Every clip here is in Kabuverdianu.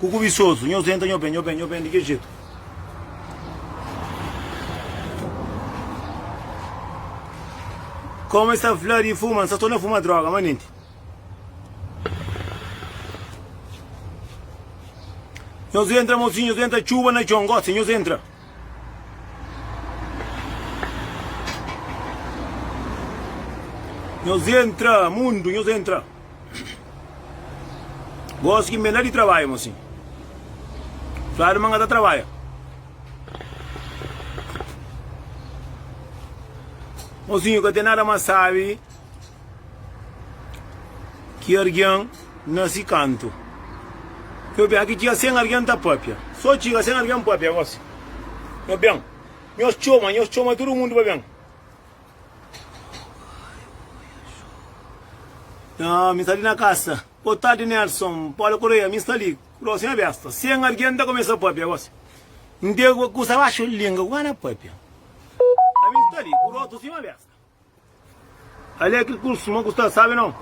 Ku ku bisozu nhos entra nho ben nho ben nho ben di ke jetu. Komu es ta fla di fuma nsa sto na fuma droga manenti. Nhos entra mosinhu nhos entra txuba na txon gosi nhos entra. Nhos entra mundu nhos entra. Gosi ki N ben la di trabadja mo si fladu ma N ka ta trabadja Mozinhu ka ten nada ma sabi ki argen na si kantu Nho ben aki txiga sen argen ta papia So txiga sen argen papia gosi Nho ben nhos txoma nhos txoma tudu mundu pa ben Nha, mi sta li na kasa. Bo tardi Nelson, Paula Correia, mi sta li, ku dosi na besta. Sen argen ta kumesa papia gosi. N te kusa baxu linga ku kana papia. A mi sta li, ku rostu sima besta. Ali é kel kursu ma ku sta, sabe nau.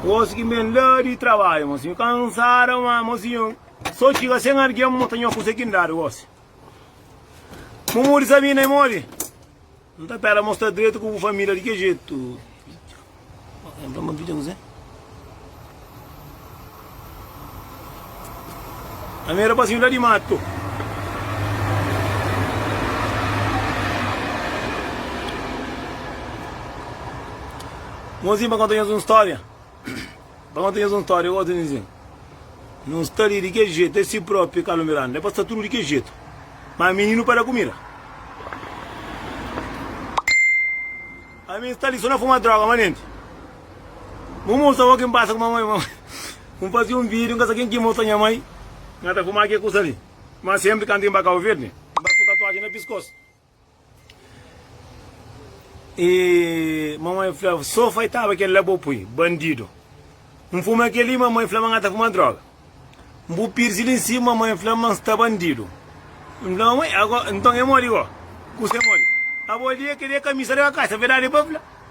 Gosi ki N ben la di trabadju, mosinhu, kansada, ma mosinhu. Sô txiga sen algen mo ta nho kusa ki N dadu gosi Mo modi sa mi na e modi N ta pera mo sta dretu ku bu família di ke jetu Vidja ma vidja kuzê Na mi rapazinhu la di matu Bonzinhu pa konta nhos un stória. Ba konta nhos un stória gosi nhos inzin Nhos sta li di kel jetu É si própi Carlo Miranda É pa sta tudu di kel jetu Má mininu pa da kumida Ami n'sta li so na fuma droga ma nenti Mu musa bo kin pasa ku mamai Mu fasi un vídiu n'ka sa kin ki musa nha mai N'ka ta fuma kel kusa li Má senpri kantu n'ba Kabo Verdi N'ba ku tatuajen na piskos. E mamãe flava, so faitaba kel la bo pui, bandido. N fuma kel li, mamãe flaba nha ta fuma droga. N bu pirsi li nsima, mamãe flaba ma N sta bandido. N fla, mamãe, ago, nton e modi go? Kusa e modi? Abo li e kria kamisa di ka kasa, verdadi pa fla.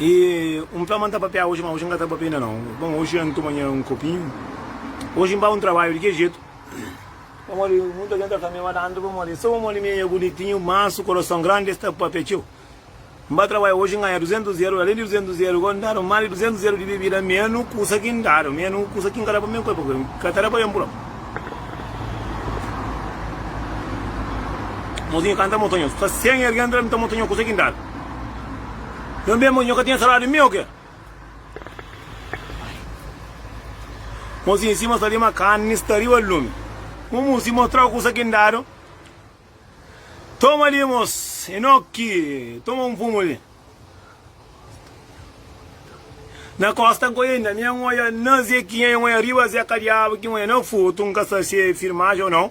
E un fla ma nta papia oji ma oji nka ta papia inda nau bon oji nha ntuma nha un kopinhu oji npa un trabadju di ke jetu pamodi muta gen ta fla mi ma tantu pamodi so pamodi mi nha bunitinhu mansu korason grandi es ta papia txeu nba trabadju oji nganha 200 ieru alén di 200 ieru gó ndadu más di 200 ieru di bebida menu kusa ki ndadu menu kusa ki nka da pa mi kópe nka ta da pa ben pura mozinhu kanta motonhas fla sen ergi entra nta motonha kusa ki ndadu. Nhos ben, nhos ka tinha saladu di mi o ke? Mozinhu Simon sta li, ma karni sta riba lumi. Mumu si mostrau kusa ki N dadu. Toma li, mos, Enoki, toma un pumu li. Na kosta ku inda, mi N oja na ze kiña, N oja riba ze ka diabu ki N oja na futu, N ka sta si e firmaji o nau.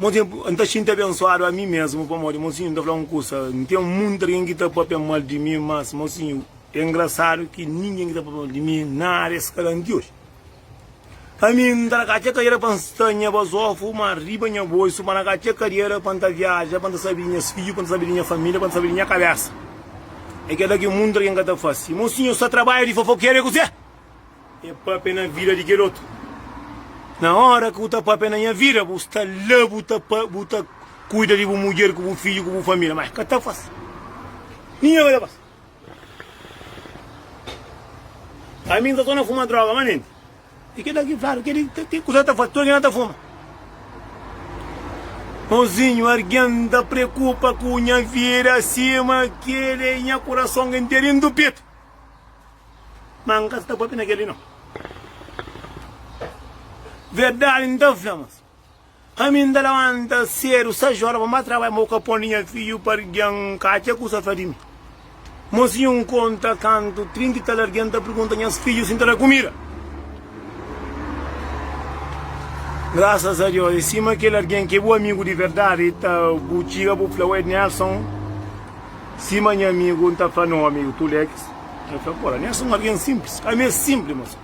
Mon tempu N ta xinti abensuadu ami mesmu pamodi mon sinhu N ta fla un kusa N ten munti algen ki ta papia mal di mi mas mon sinhu é ngrasadu ki ningen ki ta papia mal di mi na ária es ka lanti oji ami N ta na ka txeu kadiera pa N sta nha bazofu ma riba nha boisu pa na ka txeu kadiera pa N ta viaja pa N ta sabe di nhas fidju pa N ta sabe di nha família pa N ta sabe di nha kabésa é keda ki munti algen ka ta fase mon sinhu N sta ta trabadja di fofokeru é kuzê? É papia na vida di kel otu Na ora ki bu ta papia na nha vida Bu sta la bu ta bu ta kuida di bu mudjer ku bu fidju ku bu família Má ka ta fásil Ninhun ka ta fásil Ami n sta sô na fuma dróga má nenti E keda ki fladu keda ki ki kuza ki ta fla tudu algen la ta fuma Mozinhu argen ta prekupa ku nha vida sima kede nha kurason ki n ten dentu petu. Má N ka sta pâpia na kel-li, nau. Verdadi N ta fla mas, ami N ta labanta sédu sais óra pa N ba trabadja, ma bu ka pô-m di nha fidju pa algen ka atxa kusa fla di mi. Mo si N konta kantu trinta i tal algen ta pergunta nhas fidju si N ta da kumida. Grasas a Deus, é sima kel algen ki é bu amigu di verdadi i ta bu txiga bu fla, Ué, Nelson, sima nha amigu, N ta fla-nu, Ô amigu, tu lé kes. El fla, Ora, mi es un algen sinplis. Ami es sinpli, mos.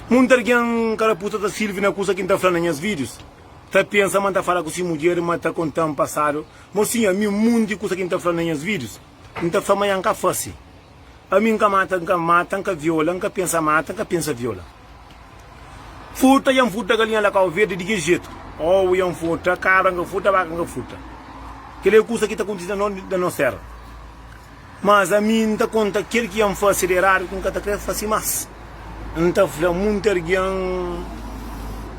Monti algen karapusa ta sirvi na kusa ki N ta fla na nhas vidius, ta pensa ma N ta fala ku si mudjer ma ta konta-m pasadu. Mos, sin ami, monti kusa ki N ta fla na nhas vidius, N ta fla ma nha N ka fase. Ami N ka mata, N ka mata, N ka viola, N ka pensa mata, N ka pensa viola. Furta ya N furta galinha la kau verdi di ki jetu Owu ya N furta kabra N ka furta baka N ka furta Kel-li é kusa ki ta kontise na nos tera Mas ami N ta konta kel ki ya N fase di eradu ki N ka ta kre fase mas N ta fla munti argen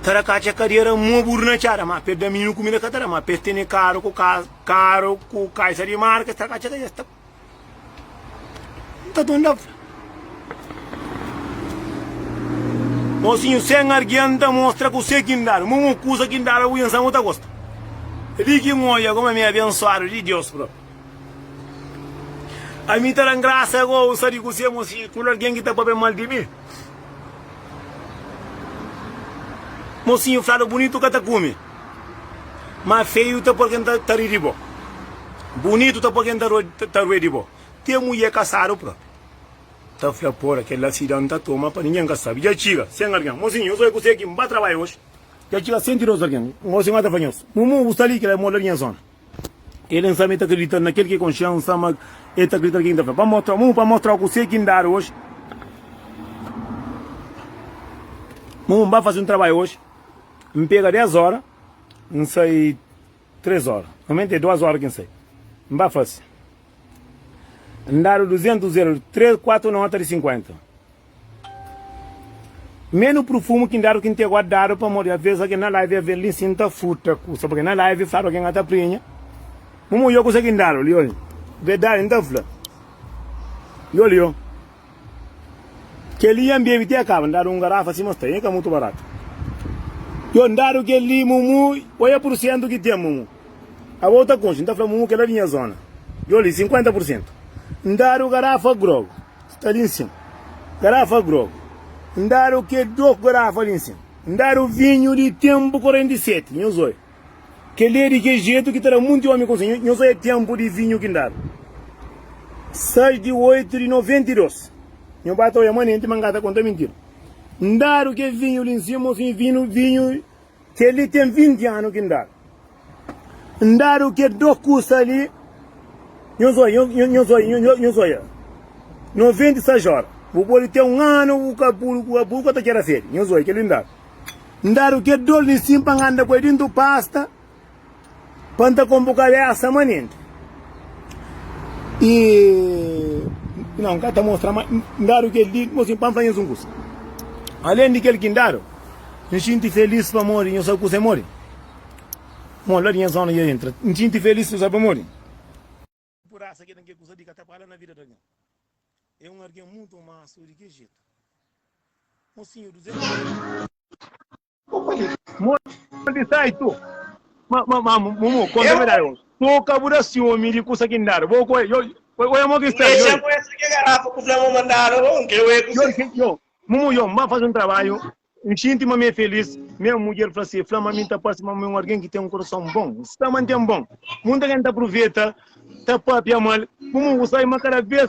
ta da katxa kadera Mo buru na txada ma pes daminu kumida ka ta da ma pes tene karu ku kaza karu ku kaisa di marka es ta da katxa kadera Nta ton da fla. Mosinhu sen argienta mostra ku se ki N dada. Mon un kusa ki N dada bu insan bu ta gosta. É li ki N odja kuma mi é abensuadu di Deus propi. Ami ta da-m grasa ago un sa di ku se mosinhu tudu algen ki ta papia mal di mi. Mosinhu fladu bunitu ka ta kume. Má feiu ta pô-l ken ta ri di bo, bunitu ta pô-l ken ta rue di bo, te mudjer kasadu própi ta fla, Pora, kel-la si da N ta toma pa ningen ka sabe. Dja txiga sen algen. Mozinhu, nhos oi kuzê ki N ba trabadja oji. Dja txiga sen ti dôs algen. Gosi N ba ta fla nhos, Mumu, bu sta li? Kel-la é móda di nha zóna. El N sama el ta kridita na kel ki konxe-u, N sama el ta kridita na kel ki N ta fla. Pa N mostra-u, Mumu, pa N mostra-u kuzê ki N dadu oji. Mumu, N ba faze un trabadja oji. N pega dés óra, N sai três óra. Normalmenti é duas óra ki N sai. N ba fase. N dadu duzentus el, três, kuatu nota di sinkuenta. Menu prufumu ki N dadu ki N tê gosi dadu pamodi a veza ki na live a vê-l li si N ta furta kusa purki na live fla algen a ta prinha. Mumu yo kusa ki N dadu li, oji. Verdadi N ta fla. Yo li, yo. Kel-li nha N bebe ti akaba. N dadu un garafa sima sta, nha ka mutu baratu. Yo, N dadu kel-li, Mumu, oia pursentu ki ten, Mumu. Abo u ta konxe, N ta fla, Mumu, kel-la di nha zona. Yo li, sinkuenta pursentu. N dadu garafa grogu, sta li nsima. Garafa grogu. N dadu ke dôs garafa li nsima. N dadu vinhu di tenpu korenti seti, nhos oia. Kel-li é di kes jetu ki ta da munti ómi konselu. Nho, nho sa é ténpu di vinhu ki N dadu. 6 di 8 di 92. Nho ba ta oja manenti, ma N ka ta konta mintira. N dadu kel vinhu li N sima, ô sin vinhu, vinhu. Kel-li ten 20 anu ki N dadu. N dadu kel dôs kusa li. Nho sa oja, nho, nho sa oja, nho, nho sa oja. 96 óra. Bu pode ten un anu, bu ka, bu, bu ka ta txera sedi. Nho sa oja, kel-li N dadu. N dadu kel dol li nsin pa N anda ku el dintu pasta pa N ta konbukadu é asa manenti. I Nau, N ka ta mostra ma N dadu kel li mô nsin pa N faze nsun kusa. Alen di kel ki N dadu, N xinti felis pamodi nhos akuza mô di mon la di nha zona di orienta. N xinti felis, N sabe pamodi? Purasa ke ten ke kusa di ka ta para na vida di algen. E un argen mutu mansu di ke jetu. Un sinhu duzentu anos. Monti sai tu. Ma ma ma mumu konta verdadi bo. Tu ka bu da siumi di kusa ki N dadu bo ku el. Oja mo ki N sta di. Yo yo mumu yo N ba fasi un tarbaju N xinti ma mi é filís. Nha mudjer fla si, Fla ma mi N ta parse ma mi é un algen ki ten un korason bon. N sta mante-m bon. Munta algen ta pruveta, ta pâpia mal. Bu mon ku sai, ma kada bês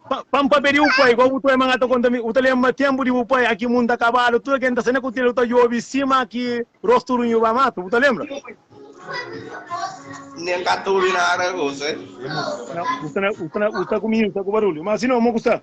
pa N pâpia di bu pai, gósi bu ta oi ma N ta konta mi. Bu ta lenbra ténpu di bu pai, aki munta kabalu, tudu algen ta sai na kutilha, bu ta djobe sima ki rostu runhu ba matu. Bu ta lenbra? N ka ta obi nada gosi. Bu sta ku mi, bu sta ku barulhu. Ma si no, mon ku sta?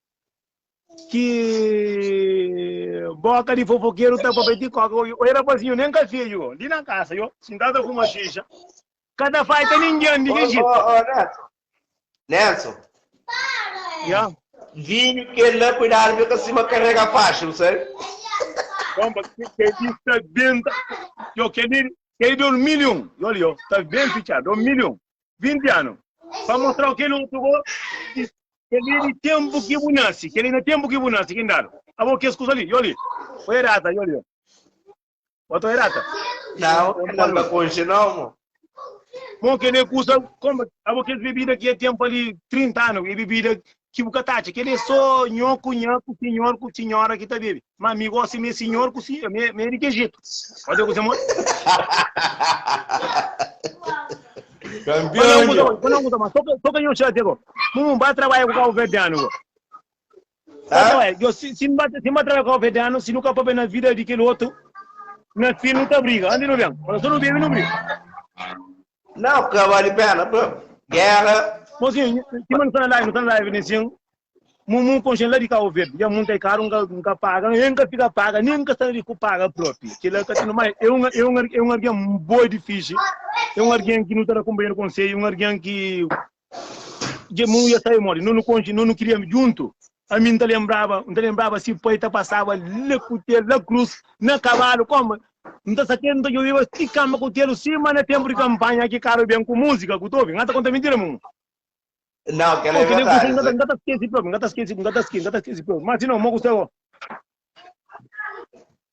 ki boka di fofokeru ta papia ti koka oi oi rapazinho nem ka feio li na kasa yo sintadu ta fuma xixa ka ta faita ninguem di ki jitu oh, oh, oh, Nelson Nelson ya vinho que lá cuidado fica cima carrega fácil sabe bom porque que está dentro eu queria que dormir um olha tá bem fechado dormir um 20 anu. Pa mostrau kel otu bo, i kel-li é di ténpu ki bu nase. Kel-li na ténpu ki bu nase ki N dadu abo kes kuza li. Yoli, oi rata, yoli, bo ta oi rata? Nau, el ka ta konxe nau, mo. Mo, kel-li é kuza, konba, abo kes bebida ki e ten pa li 30 anu. É bebida Ki bu ka ta atxa, kel-li é sô nho ku nha, ku sinhor ku sinhora ki ta bebe. Má mi gósi mê sinhor ku si, mi é di kejitu. Pabia kuzê mon. Kanpion dja. Pabia kuzê mon ta mostra, sô ka nho xatia go. Mon mon ba trabadja ku kabuverdianu go. Ba trabadja, djo, si si ba, si ba trabadja ku kabuverdianu, si nu ka pâpia na vida di kel otu, na fin nu ta briga. Andi nu ben. Fala, sô nu bebe nu briga. Não, que vale a pena, pô. Guerra. Mozinho, que mano tá na live, tá na live, Nezinho. Mumu conchen lá de Cabo Verde. Já muito é caro, nunca, nunca paga, nunca fica paga, nem nunca está de paga próprio. Que lá tá tendo mais. É um, é um, é um alguém boa de ficha. É um alguém que não tá na companhia do conselho, é um alguém que Dje Munu ya sai modi? Nunu konxe, nunu kria djuntu. Ami N ta lenbraba, N ta lenbraba si pai ta pasaba la ku tel, la krus, na kabalu, koma N ta sakedu, N ta djobiba si kanba ku telu, sima na tenpu di kanpanha ki karu ben ku musika ku ta obi. N ta konta mintira, Munu? Nau, kel-la é verdadi, Zé. N ka ta skese propi, N ka ta skese, N ka ta skese, N ka ta skese propi. Ma si nau, mo ku sta bo?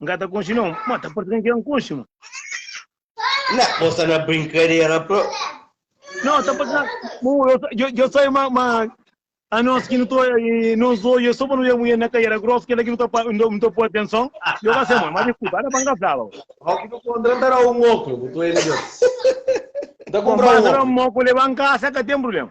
N ka ta konxe no. Ma ta parse ka N kre N konxe ma. Na, bo sta na brinkadera pro. No, ta parse na. Bo, yo, yo sai ma, ma a nos ki nu to nos oje so pa nu oja mujer na kaiera gros kela ki nu ta pa nu ta poi atenson yo ka se ma ma diskulpa ada pa N ka flaba bo. Au ki nu kontra N ta dau un oklu bu ta oja midjor. N ta konpra un oklu. N ta dau un oklu leba N kasa ka ten problema.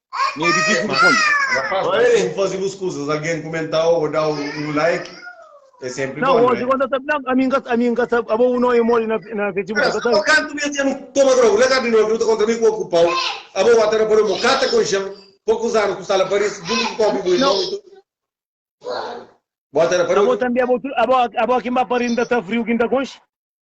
Mi é difísil responde. Rapaz, ma é sen faze bus kuzas algen kumentau ô dau un like é senpri bon, nau é? Não, ami n ka sabi, ami n ka sabi, abo bu nome modi na na Facebook, n ka sabi. Kantu mi até nu toma droga, na gardi novi, nu ta kontra mi ku oku pau, abo wata na paloma, o kata konxan, pokus anus ku sala paris, juntu ku kopi bu irmon i tudu. Bo ata na paloma. Abo tambi, abo, abo, abo ki n ba pari, n ta sta friu ki n ta konxe.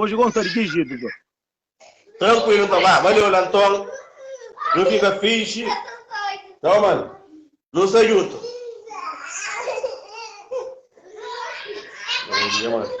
Oji gó N ta digijidu gó. Trankuilu nton ba. Mane yo la nton. Nu fika fixi. Tá ó mane. Nu sta djuntu. Oji nha mane.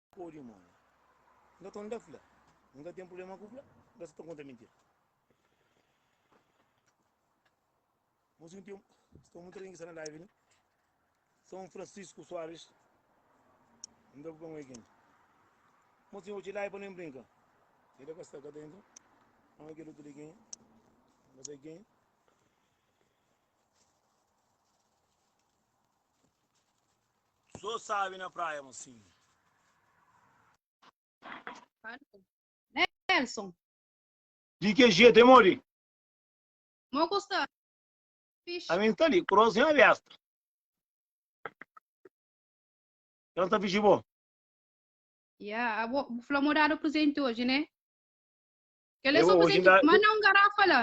Ô dimóni, N ka ta unda fla. N ka ten prubléma ku fla, N ka sta ta konta mintira. N sidu ten sta monti algen ki sta na live li. Son Francisco Soares, N da bu ben weekend. Mon sinhor, txi live pa nu brinka. El la ka sta ka ta entra. N kel otu li kenha? N ka sai kenha. Sô sabe na praia mosinhu. Nelson. Di ke jetu e modi? Mo ku sta fixi. Ami sta li, kros nha besta. Ka sta fixi bo? Ya, abo bu fla mo dadu presenti oji, ne? Kele so presenti, manda un garafa la.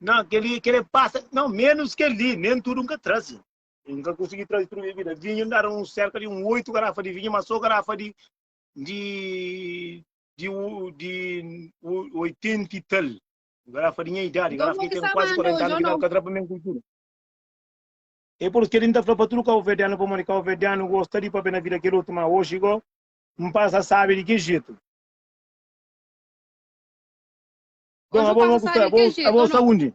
Nan, kele pasa, nan, menus keli, nen tudu nka trazi. E N ka konsigi traze tudu nha bida. Vinhu, N dadu sérka di un oitu garafa di vinhu, má sô garafa di oitenta i tal. Garafa di nha idadi, garafa ki ten kuazi kuarenta anu, ki dadu ka tra pa mi un kultura. É pur isu ki N ta fla pa tudu kabuverdianu pamodi kabuverdianu gosta di pâpia na vida kel otu. Má oji go N pasa sábi di ki jetu. Dom, abo, abo, abo sta undi?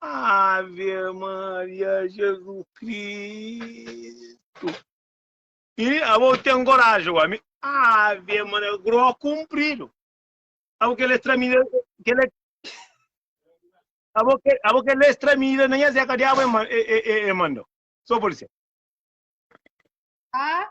Ave Maria Jesus Cristo. E avô tem coragem, o homem. Ave Maria, gró cumprido. Avô que ele extramida, que ele... Avô que, avô que ele extramida, nem a zeca de avô e manda. Só polícia. Ah,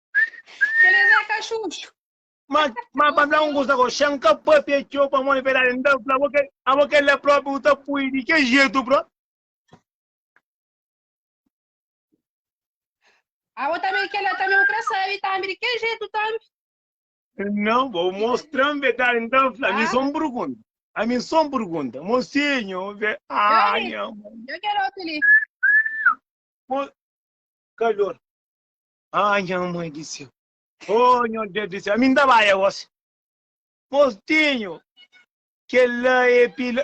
Keles é kaxuxu. Ma ma pa fla un kusa ko xan ka papia txeu pamodi verdadi n ta fla bo ke abo kel la propi bu ta pui di ke jetu bro. Abo tambi kel la tambi bu kre sabi tambi di ke jetu tambi. Não, vou mostrar verdade, então, a mim só me pergunta. A mim só me pergunta. Mocinho, vê. Ah, eu, eu quero outro ali. Mo... Calor. Ah, nha mãe di céu. Oh, nho Deus di céu. Ami nta bai agosi. Mostinho, kel la é pila.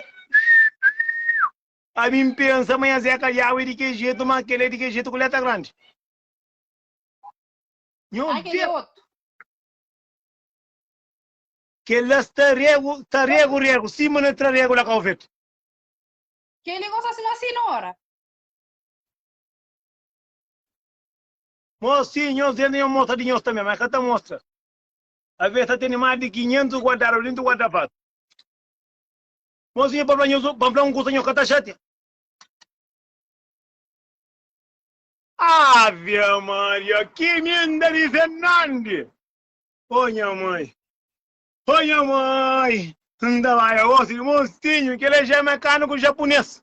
Ami npensa ma nha Zé Calhau é di kel jetu, ma kel é di kel jetu ku létra grandi. Nho Ah, kel é Deus, otu. kel la sta regu, ta regu, regu, sima na tra regu la Calvete. Kel li gosta sima sinora. Nhos, si, nhos djenta nhos mostra di nhos tanbe, ma e ka ta mostra. Aves ta tene más di kinhentus guardadu dintu guarda-fatu. Mo sinhor pa fla nhos, pa fla un kusa, nhos ka ta xatia. Ave Maria, ki minda di Fernandi! Oh nha mãe! Oh nha mãe! Nta bai agosi di Monsinho, kel é já é mecânico japonês.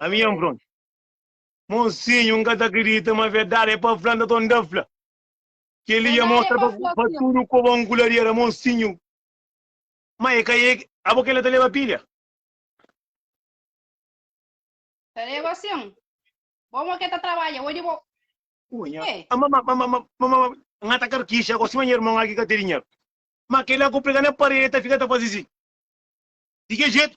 Ami nha npron. Monsinhu nka ta kridita ma verdade é pa fla nta nta fla keli nha mostra pa tudu ko bon ku lariera monsinhu ma é ka é abo kela ta leba pilha. Ta leba sin bo mo ke ta trabadja odi bo Nha é. Ama ma ma ma ma ma nha ta karkixa ko sima nha irmon aki ka te dinheru ma kela ku prega na paredi ta fika ta fazi si di ke jetu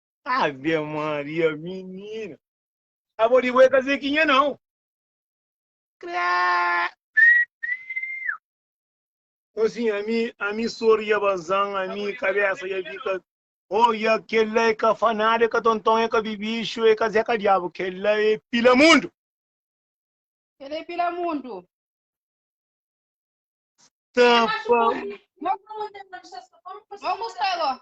Ave Maria, minina. Abo di bo é ka Zequinha nau. Cré. Então assim, a mim, a mim sorria bazan, a mim cabeça ia fica. Olha, aquele lá é cafanado, é catontão, é cabibicho, é caseca diabo, aquele lá é pila mundo. Ele é pila mundo. Tampa. Vamos, Taylor.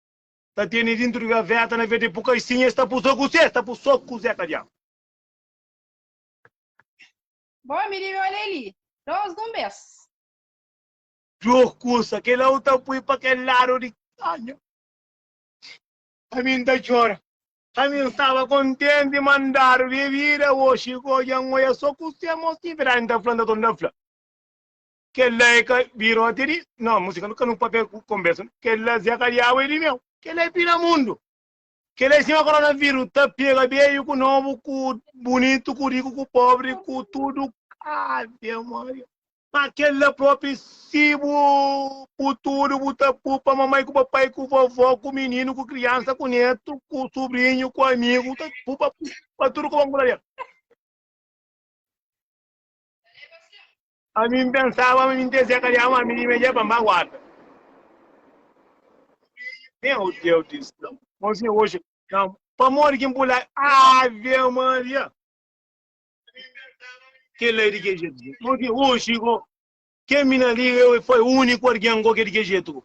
ta tene dintru di gaveta na vez de pu kaixinha es ta pu so kuzê? Es ta pu so kuzê ka diabu. Bo mi dibi olha li dos dun bes. Djo kusa kel la u ta pui pa kel lado di kanha ami n ta txora ami n staba kontenti ma n dadu di vida oxi ku odja n oia so kuzê mosi verdadi n ta fla n ta torna ta fla. Kel-la é ka birote di. No, músika nu ka nu pâpia ku konbersa nu. Kel-la zé ka diabu é di meu. Kel-la é pina mundu. Kel-la é sima koronaviru ta pega beiu ku nobu ku bunitu ku riku ku pobri ku tudu Ave Maria. Ma kel-la propi si bu pu tudu bu ta pu pa mamai ku papai ku vovó ku mininu ku kriansa ku netu ku subriñu ku amigu ta pu pa tudu ku ba nkuladera. Ami N pensaba ma mi N ten serka di ama mi di medja pa N ba guarda Nen o Deus di Israel Mon Senhor oxi Ka pamodi ki N pula Ave Maria Ke la e di ke jetu go Mon Senhor oxi go Ke mi na li e foi uniku argen go ke di ke jetu go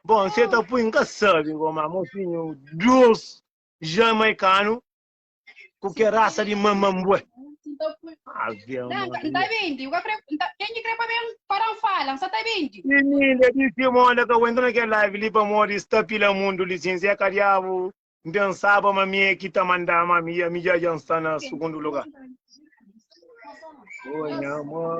Bon se ta pui N ka sabi go ma Mon Senhor Deus Jamaikanu Ku ke rasa di manman bu é? Ave Maria. Emília di Simon la ka wentra na kel live li pamodi sta pila mundu lisinsa é ka diabu N pensaba ma mi é ki ta manda ma mi ami dja dja N sta na sugundu lugar Ô nha amor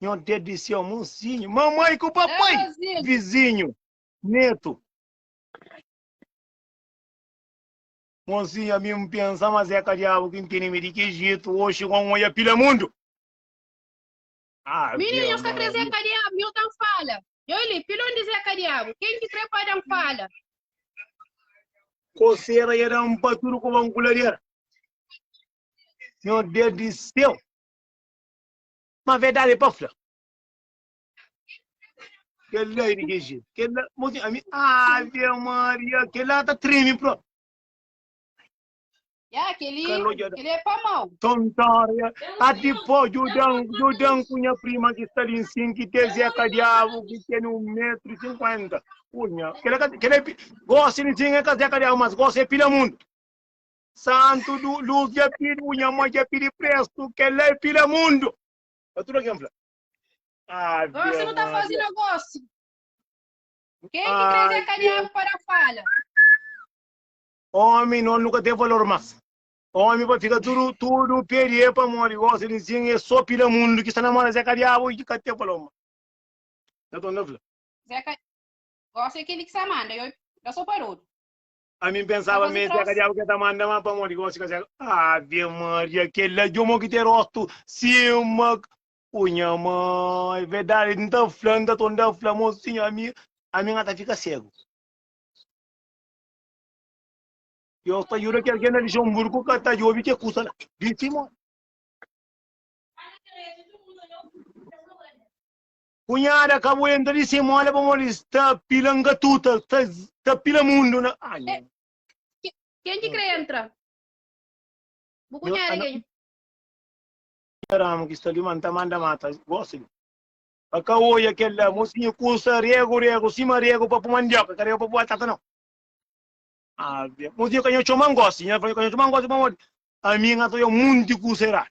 Nho dé di séu monsinho. Mamai ku papai, vizinho, netu. Monsinho ami N pensa ma Zeka diabu ki N tene mi di ki jetu oxi kon N oia pila mundu. Minha nho sta kre Zeka diabu nho ta N fala Nho li pilondi Zeka diabu ken ki kre pa da N fala. Kosera ya da N pa tudu ku ban ku ladera. Nho dé di séu. Ma verdade pa fla. Kel la é di ki jeito? Kel la, mo si ami, Ave Maria, kel la ta treme propi. Ya, keli, Kalo ja da. keli é pa mau. Tontória, ati pô, Judan, Judan ku nha prima ki sta li nsin, ki tê zeka diabu, ki tene un metru i sinkuenta. Kunha, kel la ka, kel la é, pi- gosi nsin é ka zeka diabu, mas gosi é pilamundu. Santu du lus dja pidi u nha mó dja pidi prestu kel la é pila mundu pa tudu algen fla Ave Maria. Gosi nu ta fazi negosi. Ken ki krezi é kadiadu pa da fala. Omi nol nu ka ten valor mas. Omi pa fika tudu tudu pedi é pamodi gosi di nsin é so pila mundu ki sta na mó des é kadiabu i ki ka ten valor mas. Nton da fla. Zé ka gosi é kel ki sa manda yo da so pa rodu. Ami N pensaba ma es é ka Diabu ke ta manda, ma pamodi ki gosi ka sega? Ave Maria, kel la di omo ki ten rostu sima ku nha mai. Verdadi N ta fla, N ta torna fla, mosinhu, ami ami nga ta fika segu. Deus ta juda ki algen na Lixemburgu ka ta djobi ke kusa la di Simon. Kunhada ka bu entra li sem olha pamodi es ta pila ngatuta ta pila mundu na ah nha. Ken ki kre entra? Bu kunhada ke nha? Nha ramu ki sta li ma nta manda mata gosi li pa ka oia kel la mosinhu kusa regu regu sima regu pa pu mandioka ka regu pa pu batata nau ave mosinhu ka nha txoma ngosi nha fla ka nha txoma ngosi pamodi ami nga ta oia munti kusa eradu.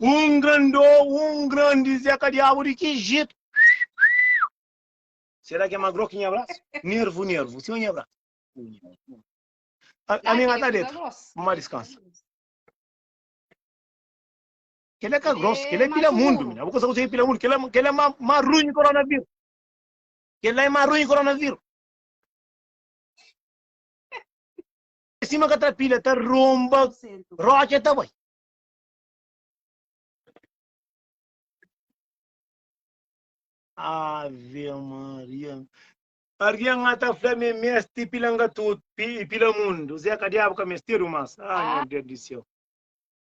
Um grandô, um grande Zé Kadiabo de que jeito? Será que é magro que nha braço? Nervo, nervo, se nha braço. A minha tá dentro, uma descansa. Que ele é grosso, que ele é pila mundo, mina. Vou conseguir usar pila mundo, que ele é, que ele é marrunho coronavírus. Que ele é marrunho coronavírus. Em cima que tá pilha, tá romba, rocha, tá boi. Ave Maria. Alguém lá tá falando me meste pilanga tudo, pila mundo. Zé Cadiabo que mesteiro, mas. Ai, meu Deus do céu.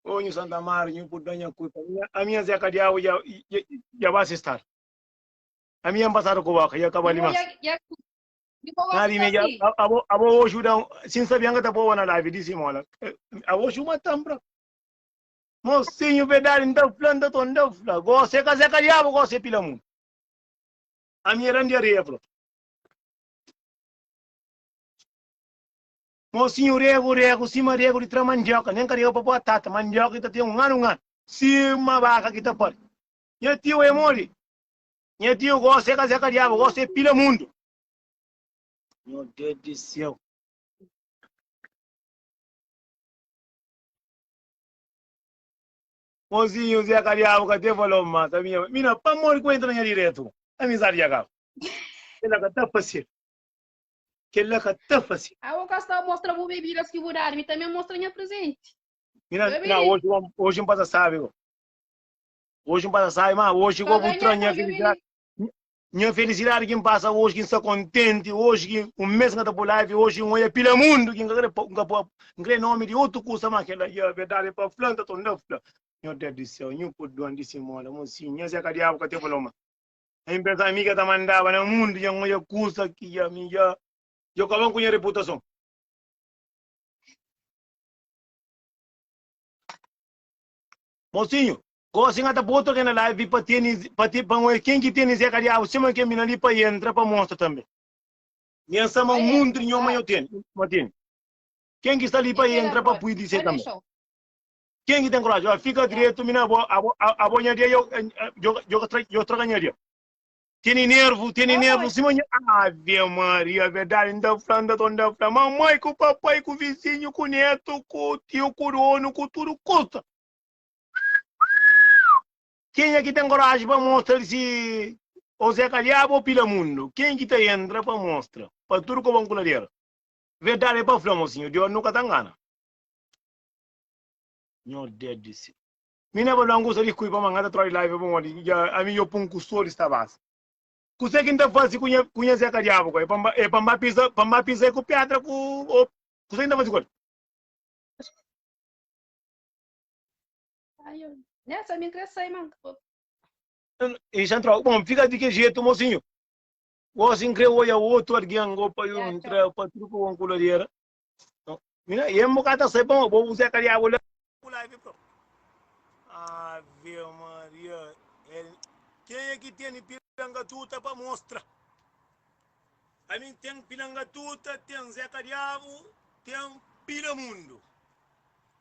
Onho Santa Marinho, por dar minha culpa. A minha Zé Cadiabo já, já, já vai se estar. A minha passada com vaca, já acaba ali, mas. Nari me já, abo, abo hoje dá, sem saber que tá boa na live, disse mola. Abo hoje uma tambra. Mosinhu verdadi n ta fla n ta ton ta fla gosi é kazeka diabu gosi é pila mun ami é randi areia fla mosinhu regu regu sima regu di tra mandioka nen karega pa batata mandioka ki ta ten un anu un anu sima baka ki ta pari nha tiu é modi nha tiu gosi é kazeka diabu gosi é pila mundu nho Deus di seu. Mozinhu Zé ka diabu ka te falou ma ta vinha mina pamor di ku entra na nha diretu amizadi dja kaba. Kel la ka ta fasil. Kel la ka ta fasil. Abo ka sta mostra bu bebidas ki bu dadu mi tanbe mostra nha presenti. Mina Oi na oji bo oji n pasa sabi ko. Oji n pasa sabi ma oji ko bu tranha filisidadi. Nha felisidadi ki N pasa oji ki N sta kontenti oji ki un mes N ka ta poi live oji N oia pila mundu ki N ka kre pa N ka poi N kre nomi di otu kusa ma kela ya verdadi pa fla N ta torna fla nho Deus di séu nhu podi duan di si moda mon si nha Zeka diabu ka te faló ma nha N pensa mi ka ta mandaba na mundu ya N oia kusa ki ya mi ya dja koba ku nha reputason. Mosinhu, gosi N ta pô otu algen na live pa tene, pa te, pa N ken ki tene Zé Kadiabu sima ken mina li pa entra pa mostra tanbe. Nha N sama un monte di nhoma nho tene, ma tene. Ken ki sta li pa entra pa pui di se tanbe. Ken ki ten kuraji, ora fika dretu mina abo, abo, abo nha dia yo, yo, yo, yo traga nha dia. Tene nervo, tene nervo, sima nha. Ave Maria, verdade, nda fla, nda to nda fla, mamãe, ku papai, ku vizinho, ku neto, ku tio, ku dono, ku tudo custa. Quem é que tem coragem para mostrar se ou Zé Calhaba ou Pila Mundo? Quem que tá entra para mostrar? Para tudo com a coladeira. Verdade é para falar, mocinho, Deus nunca tá engana. Meu Deus do céu. Mi na ba da un kusa di kui pa manga ta troa di la i bai pa modi dja ami yo pa un kustodi sta bas. Kuse ki N ta fasi ku nha ku nha zeka diabu ka? E pa N ba pisa pa N ba pisa e ku pedra ku o kuse ki N ta fasi ku el? I sa N troa, bon fika di ki jetu mosinhu. Gosi N kre oja otu algen o pa yo N tra pa tudu ku bon ku ladera. Mina, e mo kata sai bom, bo usa ka diabo lá. Pula vi pro. Ave Maria. Quem é que tem piranga tuta para mostrar? A mim tem piranga tuta, tem Zeca Diabo, tem Pila Mundo.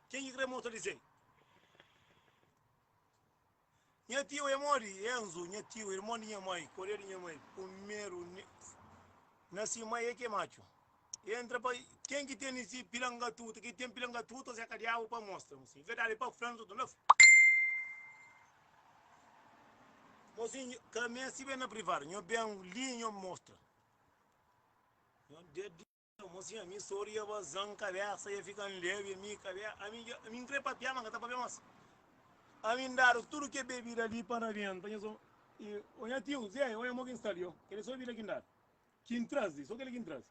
Quem é que quer mostrar isso aí? Nha tiu é modi? Enzo, nha tiu, irmon di nha mai, koria di nha mai, primeru na si mai é ki é matxu. E entra pa ken ki teni si pilangatuta, ki ten pilangatutas é kadiau pa mostra, mo sin, verdadi pa fla nzotru na fla, mo sin, ka mesti ben na privadu, nho ben li nho mostra, nho. Mostra ami stori ya ba zan kabesa ya fika n lebe ami kabe ami dja ami n kre papia ma n ka ta papia mas ami n dadu tudu ke bebida li pa rabian pa nha so i o nha tiu zé oia mo ki n sta li o kel e so bebida ki n dadu ki n traz li so kel ki n traz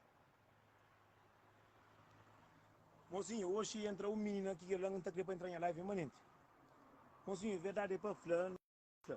mosinho oxi entra un minina ki kel la n ta kre pa entra nha life manenti mosinho verdade pa fla n fla.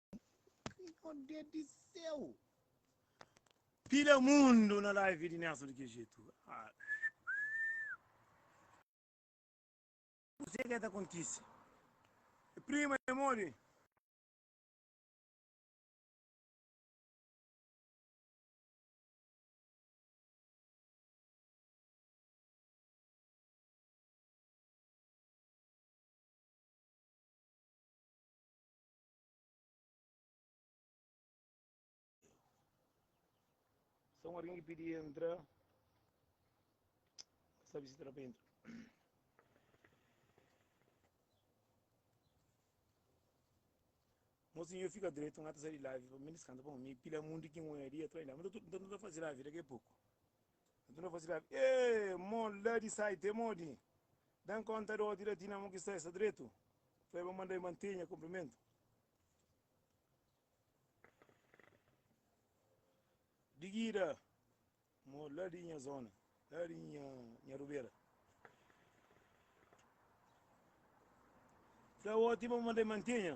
Meu Deus do céu! Pila mundo na live di Nelson di kel jeito. Ah. Kuzê ke ta kontise? É prima, é modi? Sa un algen ki pidi entra, ka sabe si ta da pa entra. Mosinhu eu fika dretu n'ata sa di live pa mi discanta pa mi pila mundi ki un oiaria tra inda ma n'ta tudu n'ta tudu ta fazi live daqui a pouco. Nton el fla si labi, E, mo, la di sai te modi? Da-m kónta dóti la ti na mo ki sta, e sta dretu? Fla el, Ba manda-i mante nha kunprimentu. Digida, mo, la di nha zóna, la di nha rubera. Fla oti, Ba manda-i mante nha.